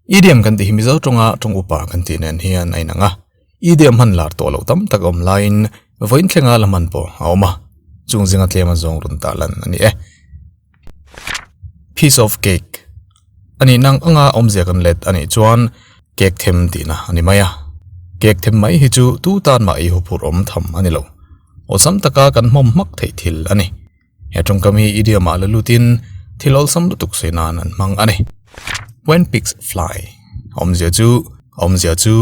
Idiom kan tih hi Mizo tawnga tawng upa kan tih nen hian a inang a, idiom hman lar tawh loh tam tak awm laiin vawiin thlenga la hman pawh a awm a, chung zinga tlema zawng rawn tah lan a ni e. Piece of cake a nih nang anga awmzia kan let a nih chuan cake them tihna a ni mai a, cake them mai hi chu tu tan mah i huphurh awm tham a ni lo, awlsam taka kan hnawm hmak theih thil a ni. He tawngkam hi idiom ah la lut in thil awlsam lutuk sawi nan an hmang a ni. When pigs fly, awmzia chu, awmzia chu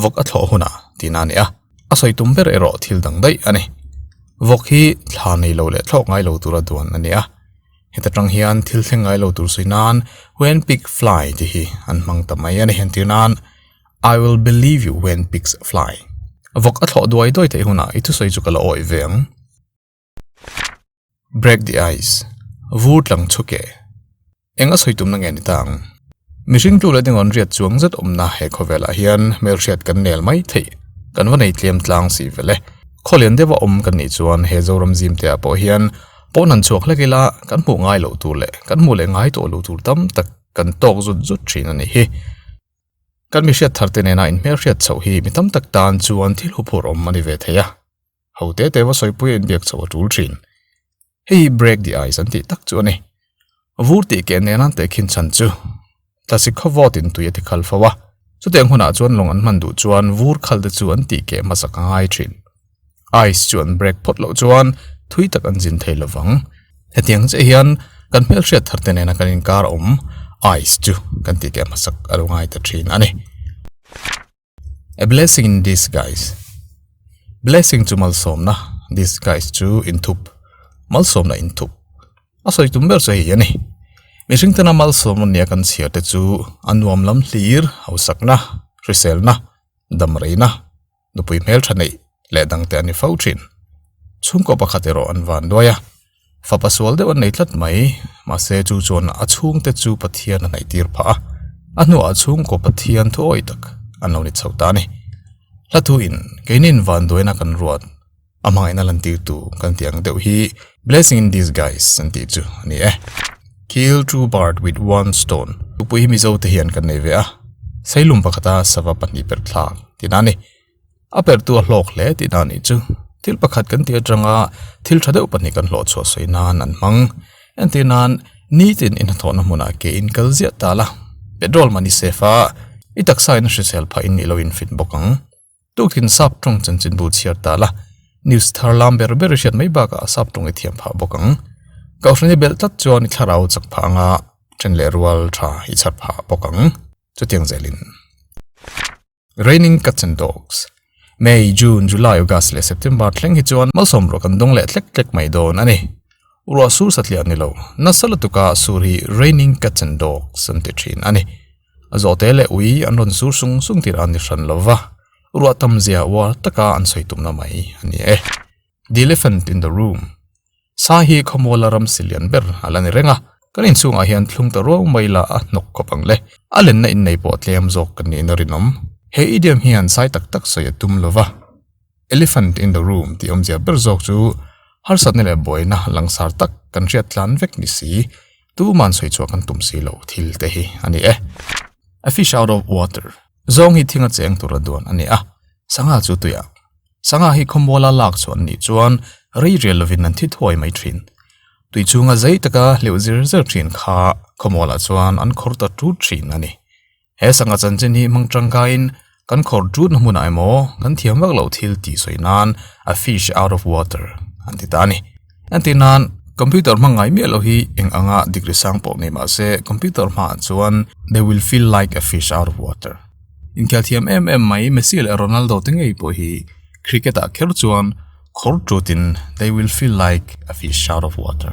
vawk a thlawh hun a tih na a ni a, a sawi tum ber erawh thil dang daih a ni. Vawk hi thla nei lo leh thlawk ngai lo tura duan a ni a. Heta tang hian thil thleng ngai lo tur sawi nan when pigs fly tih hi an hmang ta mai a ni. Entir nan I will believe you when pigs fly, vawk a thlawh duai duai theih hunah i thusawi chu ka la awih ve ang. Break the ice, vur tlang chhu keh. Enga sawi tumna nge ni ta ang? Mihring tlu leh dingawn riat chuang zet awmna he khawvelah hian hmelhriat kan nel mai theih, kan va nei tlem tlang si vele. Khaw lian deuha awm kan nih chuan he Zoram zim te ah pawh hian pawn han chhuak hlek ila kan hmuh ngai loh tur leh kan hmuh leh ngai tawh lo tur tam tak kan tawk zut zut thin a nih hi. Kan mihriat thar te nena inhmelhriat chhoh hi mi tam tak tan chuan thil huphurh awm a ni ve thei a. ho te te va sawi pui a inbiak chhoh a tul thin. Hei hi break di ai san tih tak chu a ni. Vur tih keh neh nan teh khin chhan chu tlasik khaw vawt in tui a ti khal fo a. Chutiang hunah chuan lawng an hman duh chuan vur khal te chu an tih keh hmasa ka ngai thin. Ice chu an break phawt loh chuan thui tak an zin thei lo vang. Hetiang chiah hian kan hmelhriat thar te nena kan inkar awm ice chu kan tih keh hmasa ka lo ngai ta thin a ni. A blessing in disguise Blessing chu malsawmna Disguise chu inthup Malsawmna inthup A sawi tum ber chu hei hi a ni Mihring tena malsawm ania kan chhiar te chu a nuam lam hlir hausakna hriselna damreina nupui hmeltha neih leh dangte a ni fo thin Chhungkaw pakhat erawh an van luai a. fapa sual deuh an nei tlat mai mahse chu chuan a chhung te chu pathian a hnaih tir phah a a hnuah a chhungkaw pathian thawi tak an lo ni chho ta a ni hla thu in keinin vanduaina kan ruat a hmangaihna lan tir tu kan tih ang deuh hi blessing in disguise an tih chu a ni e kill two bird with one stone tupui hi mizo te hian kan nei ve a sailum pakhata sava pahnih perh thlak tina a ni. a perhtu a hlawk hle tih na nih chu thil pakhat kan tih atanga thil tha deuh pahnih kan hlawh chhuah sawi nan an hmang entir nan nitin in hathawhna hmunah ke in kal ziah ta la petrol mahni safe a i taksa in hrisel phah in i lo infit bawk ang tukin sap tawng chanchin bu chhiar ta la news thar lam ber ber i hriat mai bakah a sap tawng i thiam phah bawk ang ka hre ni belh tlat chuan i thlarau chak phah anga then leh rual tha i chhar phah bawk ang chutiang zel in. Raining cuts and dogs, May, June, July, August leh September thleng hi chuan malsawm ruah kan dawng leh tlek tlek mai dawn a ni. Ruah sur satliah ni lo, nasa lutuk ah sur hi raining cuts and dogs an ti thin a ni. A zawhte leh ui an rawn sur sung sung tirah a ni hran lo va, ruah tam zia uar taka an sawi tumna mai a ni e. The Elephant in the Room, Sa hi khawmuala ram si lian ber a la ni reng a, kan inchungah hian thlung ta ruau mai la a hnawk khawp ang le. A lenna innei pawh tlem zawk kan nih in a rinawm. He idiom hian sai tak tak sawi a tum lo va, Elephant in the Room tih awmzia ber zawk chu harsatna leh buaina langsar tak kan hriat tlan vek ni si, tuman sawi chhuah kan tum si lo thil te hi a ni e. A fish out of water, zawng hi thing a cheng tur a duan a ni a, sangha chu tuiah. Sangha hi khawmual a lak chhuah nih chuan reirial lovin an thi thuai mai thin. Tui chunga zei taka hleuh zir zir thin kha khawmualah chuan an khawr ta tut thin a ni. He sangha chanchin hi hmang tangkaiin kan khawr tutna hmunah emaw kan thiam vaklo thil tih sawi nan a fish out of water an ti ta a ni. Heti nan computer hmang ngai miah loh hi eng anga degree sang pawh ngei mah se computer hma ah chuan they will feel like a fish out of water inkhial thiam em em mai messi leh ronaldo te ngei pawh hi cricket ah kher chuan khawr ṭut in they will feel like a fish out of water.